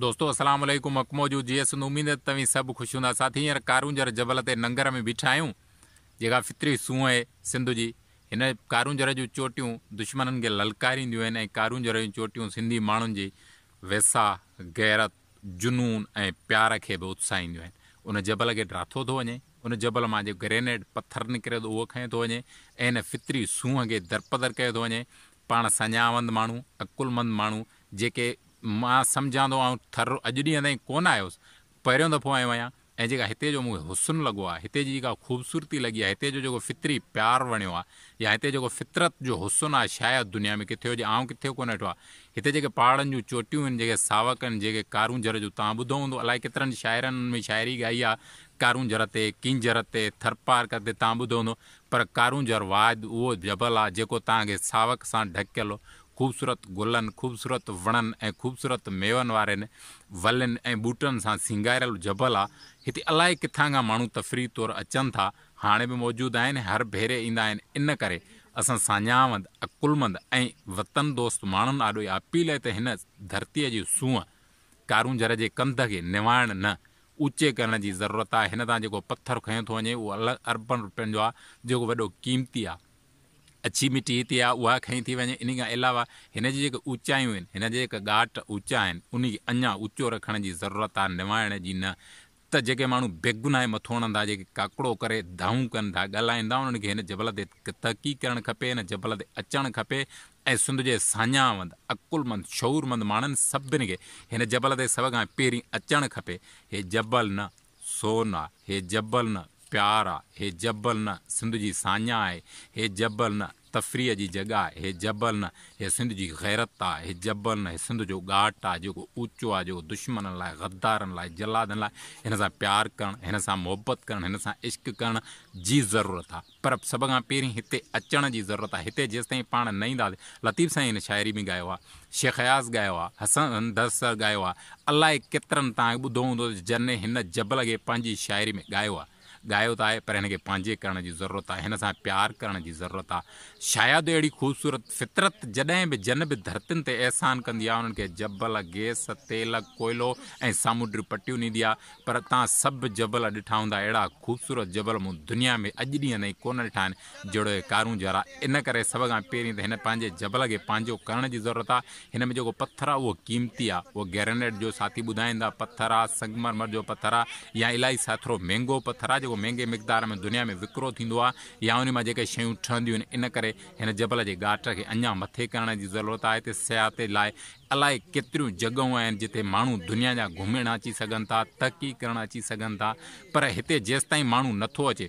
دوستو السلام عليڪم اڪمو جو جي اسند اميد ته توهين سڀ خوش هوندا ساٿي هينئر ڪارونجهر جبل تي ننگر ۾ بيٺا آهيون جيڪا فطري سونهن اهي سنڌ جي هن ڪارونجهر جون چوٽيون دشمنن کي للڪارينديون آهن ۽ ڪارونجهر جون چوٽيون سنڌي ماڻهن جي ويساهه غيرت جنون ۽ پيار کي به اتساهينديون آهن ان جبل کي ڊاٿو ٿو وڃي ان جبل مان جي گرينيڊ پٿر نڪري ٿو اهو کنيو ٿو وڃي ۽ ان فطري سونهن کي درپدر ڪيو ٿو وڃي پاڻ سڃاوند ماڻهو، عقلمند ماڻهو، جيڪي مان سمجهان ٿو آئون ٿر رو اڄ ڏينهن تائين ڪونه آيو هوس، پهريون دفعو آيو آهيان ۽ جيڪا هتي جو مون کي حسن لڳو آهي، هتي جي جيڪا خوبصورتي لڳي آهي، هتي جو جيڪو فطري پيار وڻيو آهي يا هتي جيڪو فطرت جو حسن آهي شايد دنيا ۾ ڪٿي هجي، آئون ڪٿي ڪونه ڏٺو آهي. هتي جيڪي پهاڙن جون چوٽيون آهن، جيڪي ساوڪ آهن، جيڪي ڪارونجهر جو توهان ٻڌو هوندو الائي ڪيترن شاعرن ان ۾ شاعري ڳائي آهي ڪارونجهر تي، ڪينجهر تي، ٿرپارڪر تي توهان ٻڌو هوندو پر ڪارونجهر واحد اهو جبل آ جيڪو تان کي ساوڪ سان ڍڪيل خوبصورت گلن، خوبصورت وڻن ۽ خوبصورت ميون وارين ولين ۽ ٻوٽن سان سينگاريل جبل آ. هتي الائي ڪٿان کان ماڻهو تفريح طور اچن ٿا، هاڻي به موجود آهن، هر ڀيري ايندا آهن ان ڪري اسان ساڃاهوند، عقلمند ۽ وطن دوست ماڻهن آڏو اها اپيل آهي ته هن ڌرتيء جي سونهن ڪارونجهر جي ڪنڌ کي نوائڻ نه اوچي ڪرڻ جي ضرورت آ هن تان جيڪو پٿر کنيو ٿو وڃي اهو الڳ اربن روپين جو آ جيڪو وڏو قيمتي آ اڇي مٽي هتي آ اها کنئي ٿي وڃي انهي کان علاوه هن جي جيڪي اوچايون آهن هن جا جيڪا ڳاٽ اوچا آهن انهي کي اڃا اوچو رکڻ جي ضرورت آ نوائڻ جي نه ته جيڪي ماڻهو بيگناهي مٿو هڻن ٿا جيڪي ڪاڪڙو ڪري دانهون ڪن ٿا ڳالهائين ٿا انهن کي هن جبل تي تحقيق ڪرڻ کپي هن جبل تي اچڻ کپي ۽ سنڌ جي ساڃاهوند، عقلمند، شعورمند ماڻهن سڀني کي هن جبل تي سڀ کان پهرين اچڻ کپي. هي جبل نه سون آ، هي جبل نه پيار آ، هي جبل نه سنڌ جي ساڃاهه آهي، هي جبل نه تفريح جي جڳهه آهي، هي جبل نه هي سنڌ جي غيرت آ، هي جبل نه هي سنڌ جو ڳاٽ آ، جيڪو اوچو آ، جيڪو دشمنن لاء، غدارن لاء، جلادن لاء هن سان پيار ڪرڻ، هن سان محبت ڪرڻ، هن سان عشق ڪرڻ جي ضرورت آ. پر سڀ کان پهرين هتي اچڻ جي ضرورت آهي. هتي جيستائين پاڻ نه اينداسين. لطيف سائين هن شاعري ۾ ڳايو آهي، شيخ اياز ڳايو آهي، حسن دستر ڳايو آهي، الائي ڪيترن توهان ٻڌو هوندو ته جنھن هن جبل کي پنھنجي شاعري ۾ ڳايو آهي. ڳايو ته آهي پر هن کي پنھنجي ڪرڻ جي ضرورت آهي، هن سان پيار ڪرڻ جي ضرورت آهي. شايد اهڙي خوبصورت فطرت جڏهن به جن به ڌرتين تي احسان ڪندي آهي انھن کي جبل، گيس، تيل، ڪوئلو ۽ سامونڊريون پٽيون ڏيندي آهي. پر تان سڀ جبل ڏٺا هوندا اهڙا خوبصورت جبل مون دنيا ۾ اڄ ڏينهن تائين ڪونه ڏٺا آهن جهڙو هي ڪارون جارا ان ڪري سڀ کان پهرين ته هن پنهنجي جبل کي پنهنجو ڪرڻ جي ضرورت آ هن ۾ جيڪو پٿر آ اهو قيمتي آ اهو گرينيٽ جو ساٿي ٻڌائيندا پٿر آ سنگ مرمر جو پٿر آ يا الائي ساٿرو مهنگو پٿر آ جيڪو مهنگي مقدار ۾ دنيا ۾ وڪرو ٿيندو آ يا انهي مان جيڪي شيون ٺهنديون آهن ان ڪري هن جبل جي ڳاٽ کي اڃان مٿي ڪرڻ جي ضرورت آ هتي سياحتي لاء الائي ڪيتريون جڳهون آهن جتي ماڻهو دنيا جا گهمڻ اچي سگهن ٿا، تحقيق ڪرڻ اچي سگهن ٿا پر هتي جيستائين ماڻهو نٿو اچي،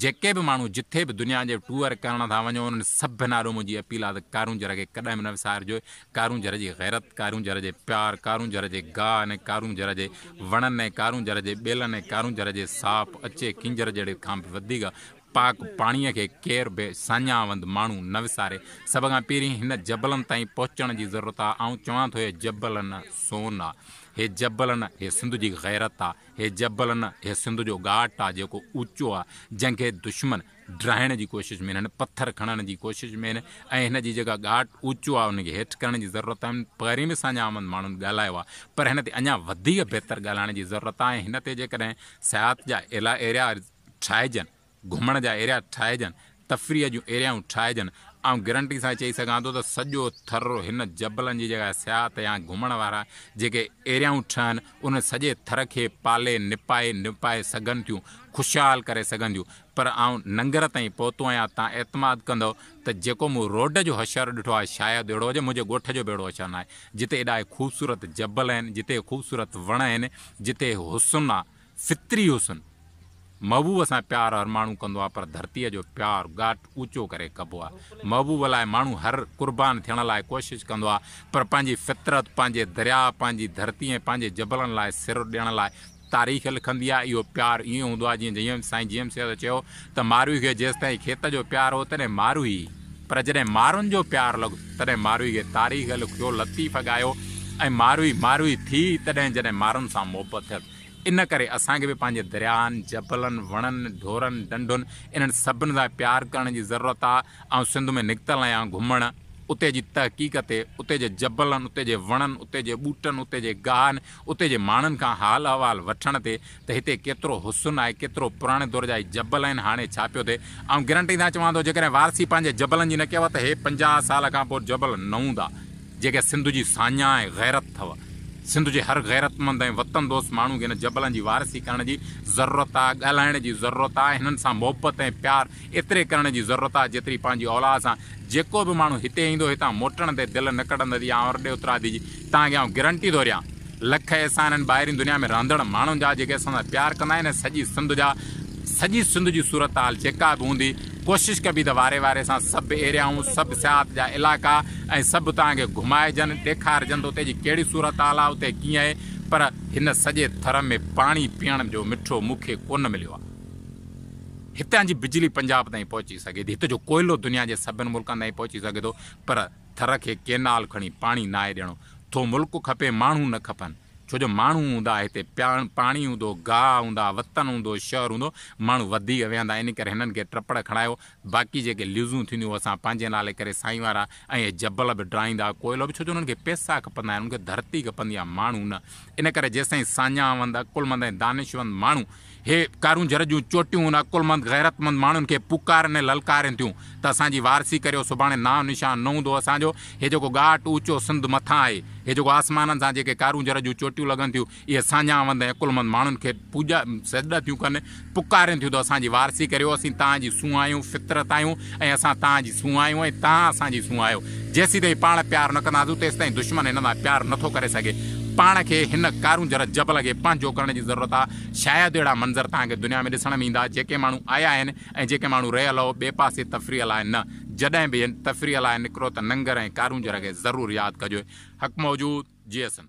جيڪي به ماڻهو جٿي به دنيا جي ٽوئر ڪرڻ ٿا وڃو انهن سڀن آڏو منهنجي اپيل آهي ته ڪارونجهر کي ڪڏهن به نه وسارجو، ڪارونجهر جي غيرت، ڪارونجهر جي پيار، ڪارونجهر جي گاهه ۽ ڪارونجهر جي وڻن ۽ ڪارونجهر جي ٻيلن ۽ ڪارونجهر جي ساپ، اچي ڪينجهر جهڙي کان به وڌيڪ پاڪ پاڻيء کي ڪير به ساڃاهوند ماڻهو نه وساري. سڀ کان پهرين هن جبلن تائين پهچڻ جي ضرورت آ. آئون چوان ٿو هي جبل نه سون آ. هي جبل نه هي سنڌ جي غيرت آ. هي جبل نه هي سنڌ جو ڳاٽ آ جيڪو اوچو آ. جنهن کي دشمن ڊاهڻ جي ڪوشش ۾ آهن، پٿر کڻڻ جي ڪوشش ۾ آهن ۽ هن جي جيڪا ڳاٽ اوچو آ ان کي هيٺ ڪرڻ جي ضرورت آ. پهرين به ساڃاهوند ماڻهن ڳالهايو آ پر هن تي اڃا وڌيڪ بهتر ڳالهائڻ جي ضرورت آ ۽ هن تي جيڪڏهن سياحت جا اعليٰ اعريا ٺاهجن، گهمڻ جا ايريا ٺاهجن، تفريح جون ايريائون ٺاهجن، آئون گرنٽي سان چئي سگهان ٿو ته سڄو ٿر هن جبلن جي جڳهه سياحت يا گهمڻ وارا جيڪي ايريائون ٺهن انهن سڄي ٿر کي پالي نپائي نپائي سگهن ٿيون خوشحال ڪري سگهن ٿيون پر آئون ننگر تائين پهتو آهيان تان اعتماد ڪندؤ ته جيڪو مون روڊ جو حشر ڏٺو آهي شايد اهڙو هجي منهنجي ڳوٺ جو به اهڙو حشر ناهي جتي ايڏا خوبصورت جبل آهن جتي خوبصورت وڻ آهن جتي حسن آهي فطري حسن، محبوب سان پيار هر ماڻهو ڪندو آهي پر ڌرتيء جو پيار ڳاٽ اوچو ڪري ڪبو آهي. محبوب لاء ماڻهو هر قربان ٿيڻ لاء ڪوشش ڪندو آهي پر پنهنجي فطرت، پنهنجي درياء، پنهنجي ڌرتي ۽ پنهنجي جبلن لاء سر ڏيڻ لاء تاريخ لکندي آهي. اهو پيار ائين هوندو آهي جيئن سائين جي ايم سيد چيو ته ماروئي کي جيستائين کيت جو پيار هو تڏهن ماروئي پر جڏهن مارن جو پيار لڳو تڏهن ماروئي کي تاريخ لکيو، لطيف ڳايو ۽ ماروئي ماروئي ٿي تڏهن جڏهن مارن سان محبت ٿيل. ان ڪري اسان کي به پنهنجي درياهن، جبلن، وڻن، ڍورن، ڍنڍن انهن سڀن سان پيار ڪرڻ جي ضرورت آ. آئون سنڌ ۾ نڪتل آهيان گهمڻ، اتي جي تحقيق تي، اتي جي جبلن، اتي جي وڻن، اتي جي ٻوٽن، اتي جي گاهن، اتي جي ماڻهن کان حال احوال وٺڻ تي ته هتي ڪيترو حسن آهي، ڪيترو پراڻي دور جا هي جبل آهن، هاڻي ڇا پيو ٿئي. آئون گرنٽي سان چوان ٿو جيڪڏهن وارثي پنهنجي جبلن جي نه ڪيو ته هي پنجاهه سال کان پوء جبل نه هوندا. جيڪا سنڌ جي ساڃاهه ۽ غيرت اٿئو. سنڌ جي هر غيرتمند ۽ وطن دوست ماڻهو کي هن جبلن جي وارثي ڪرڻ جي ضرورت آ، ڳالهائڻ جي ضرورت آ، هنن سان محبت ۽ پيار ايتري ڪرڻ جي ضرورت آ، جيتري پنهنجي اولاد سان. جيڪو به ماڻهو هتي ايندو، هتان موٽڻ تي دل نه ڪڍندو. اها آئون رڏي اترادي جي توهان کي آئون گرنٽي ٿو ڏيان. لک احسان آهن ٻاهرين دنيا ۾ رهندڙ ماڻهن جا جيڪي اسان سان پيار ڪندا آهن ۽ سڄي سنڌ جا سڄي سنڌ جي صورتحال جيڪا به هوندي ڪوشش ڪبي ته واري واري سان سڀ ايريائون سڀ سياحت جا علائقا ۽ سڀ توهان کي گهمائجن ڏيکارجن ته اتي جي ڪهڙي صورتحال آهي اتي ڪيئن اهي پر هن سڄي ٿر ۾ پاڻي پيئڻ جو مٺو مون کي ڪونه مليو آهي هتان جي بجلي پنجاب تائين پهچي سگهي ٿي هت جو ڪوئلو دنيا جي سڀن ملڪن تائين پهچي سگهي ٿو پر ٿر کي ڪينال کڻي پاڻي ناهي ڏيڻو ٿو ملڪ کپي ماڻهو نه کپن ڇو جو ماڻهو هوندا هتي پياڻ پاڻي هوندو گاهه هوندا وطن هوندو شهر هوندو ماڻهو وڌيڪ ويهندا ان ڪري هنن کي ٽپڙ کڻايو باقي جيڪي ليزون ٿينديون هو اسان پنهنجي نالي ڪري سائين وارا ۽ اهي جبل به ڊاهيندا ڪوئلو به ڇو جو انهن کي پيسا کپندا آهن انهن کي ڌرتي کپندي آهي ماڻهو نه ان ڪري جيسين ساڃاهه وند عقل مند ۽ دانشوند ماڻهو هي ڪارونجهر جون چوٽيون ان عقلمند غيرتمند ماڻهن کي پڪارن ۽ للڪارين ٿيون ته اسان جي وارثي ڪريو سڀاڻي نانء نشان نه هوندو اسان جو هي جيڪو ڳاٽ اوچو سنڌ مٿان آهي هي جيڪو آسمانن سان جيڪي ڪارونجهر جون چوٽيون لڳن ٿيون اهي ساڃاهوند ۽ عقلمند ماڻهن کي پوڄا سجدا ٿيون ڪن پڪارين ٿيون ته اسان جي وارثي ڪريو اسين توهان جي سونهن آهيون فطرت آهيون ۽ اسان توهان جي سون آهيون ۽ توهان اسان جي سون آهيو. جيسيتائين پاڻ پيار نه ڪنداسون، تيستائين دشمن هن سان پيار نه ٿو ڪري سگهي. پاڻ کي هن ڪارونجهر جبل کي پنهنجو ڪرڻ جي ضرورت آهي. شايد اهڙا منظر توهان کي دنيا ۾ ڏسڻ ۾ ايندا، جيڪي ماڻهو آيا آهن ۽ جيڪي ماڻهو رهيل هو، ٻئي پاسي تفريح لاء نه. جڏهن به تفريح لاء نڪرو ته ننگر ۽ ڪارونجهر کي ضرور ياد ڪجو. حق موجود، جيئي سنڌ.